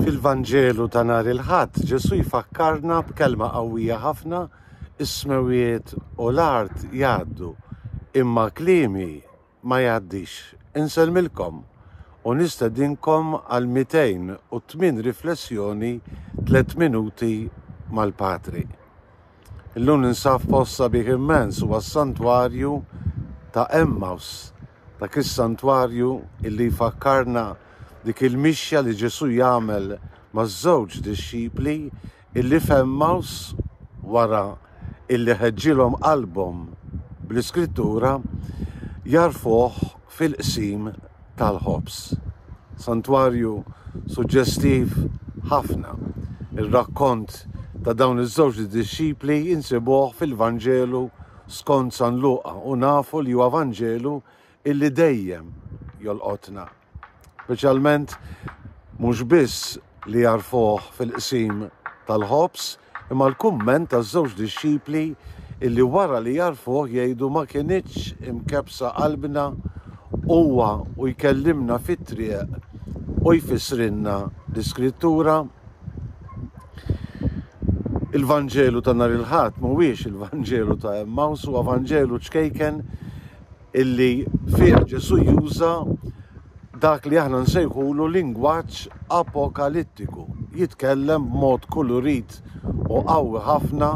Fil-Vanġelu ta' nhar il-Ħadd, Ġesù jfakkarna b'kelma qawwija ħafna, Is-smewwiet u l-art jgħaddu, imma kliemi ma jgħaddix. Insellmilkom u nistedinkom għal 208 riflessjoni tliet minuti mal-Patri. Illum ninsab f'post sabiħ immens, huwa s-santwarju ta' Emmaus, dak is-santwarju illi jfakkarna dik il-mixja li Ġesù jagħmel maż-żewġ dixxipli illi f'Emmaus wara illi ħeġġilhom qalbhom bl-iskrittura jagħrfuh fil-qsim tal-ħobż. Santwarju suġġestiv ħafna. Ir-rakkont ta' dawn iż-żewġ dixxipli insibuh fil-Vanġelu skont San Luqa u nafu li huwa Vanġelu illi dejjem jolqotna. Speċjalment mhux biss li jagħrfuh fil-qsim tal-ħobż Imma l-kumment taż-żewġ dixxipli illi wara li għarfuh jgħidu ma kinitx imkebbsa qalbna huwa u jkellimna fit-triq u jfissrilna l-Iskrittura? Il-Vanġelu ta' nhar il-Ħadd mhuwiex il-Vanġelu ta' Emmaws, huwa Vanġelu ċkejken, illi fih Ġesù juża dak li aħna nsejħulu lingwaġġ apokalittiku, jitkellem b'mod kulurit u qawwi ħafna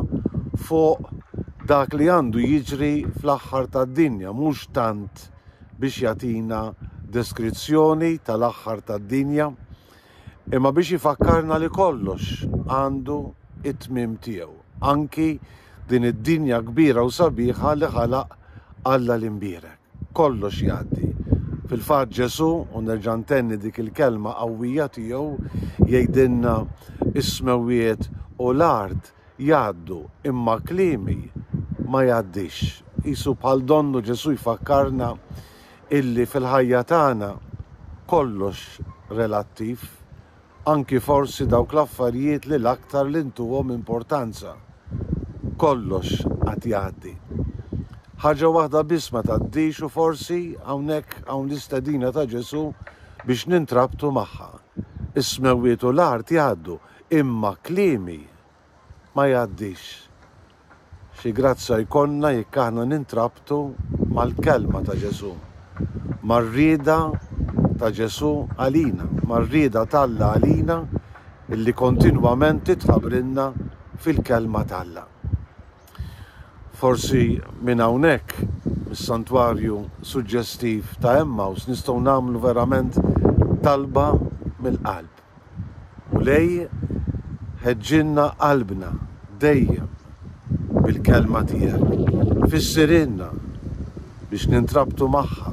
fuq dak li għandu jiġri fl-aħħar tad-dinja, mhux tant biex jagħtina deskrizzjoni tal-aħħar tad-dinja, imma biex ifakkarna li kollox għandu t-tmiem tiegħu, anki din id-dinja kbira u sabiħa li ħalaq Alla l-imbierek. Kollox jgħaddi. Fil-fatt Ġesù, u nerġa' ntenni dik il-kelma qawwija tiegħu, jgħidilna, Is-smewwiet u l-art jgħaddu imma kliemi ma jgħaddix. Qisu bħal donnu Ġesù jfakkarna illi fil-ħajja tagħna kollox relattiv, anki forsi dawk l-affarijiet li l-aktar li ntuhom importanza. Kollox għad jgħaddi. Ħaġa waħda biss ma tgħaddix u forsi hawnhekk hawn l-istedina ta' Ġesù biex nintrabtu magħha. Is-smewwiet u l-art jgħaddu, Imma kliemi ma jgħaddix. Xi grazzja jkollna jekk aħna nintrabtu mal-kelma ta' Ġesù, mar-rieda ta' Ġesù għalina, mar-rieda t'Alla għalina illi kontinwament titħabrilna fil-kelma t'Alla. Forsi minn hawnhekk, mis-santwarju suġġestiv ta' Emmaus nistgħu nagħmlu verament talba mill-qalb. Mulej, ħeġġilna qalbna dejjem bil-Kelma tiegħek. Fissirilna biex nintrabtu magħha,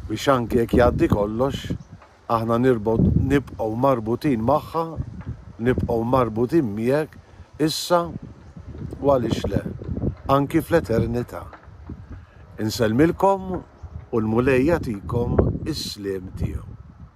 biex anki jekk jgħaddi kollox, aħna nibqgħu marbutin magħha, nibqgħu marbutin miegħek issa u għaliex le, anki fl-eternità. Insellmilkom u l-Mulej jagħtikom is-sliem tiegħu.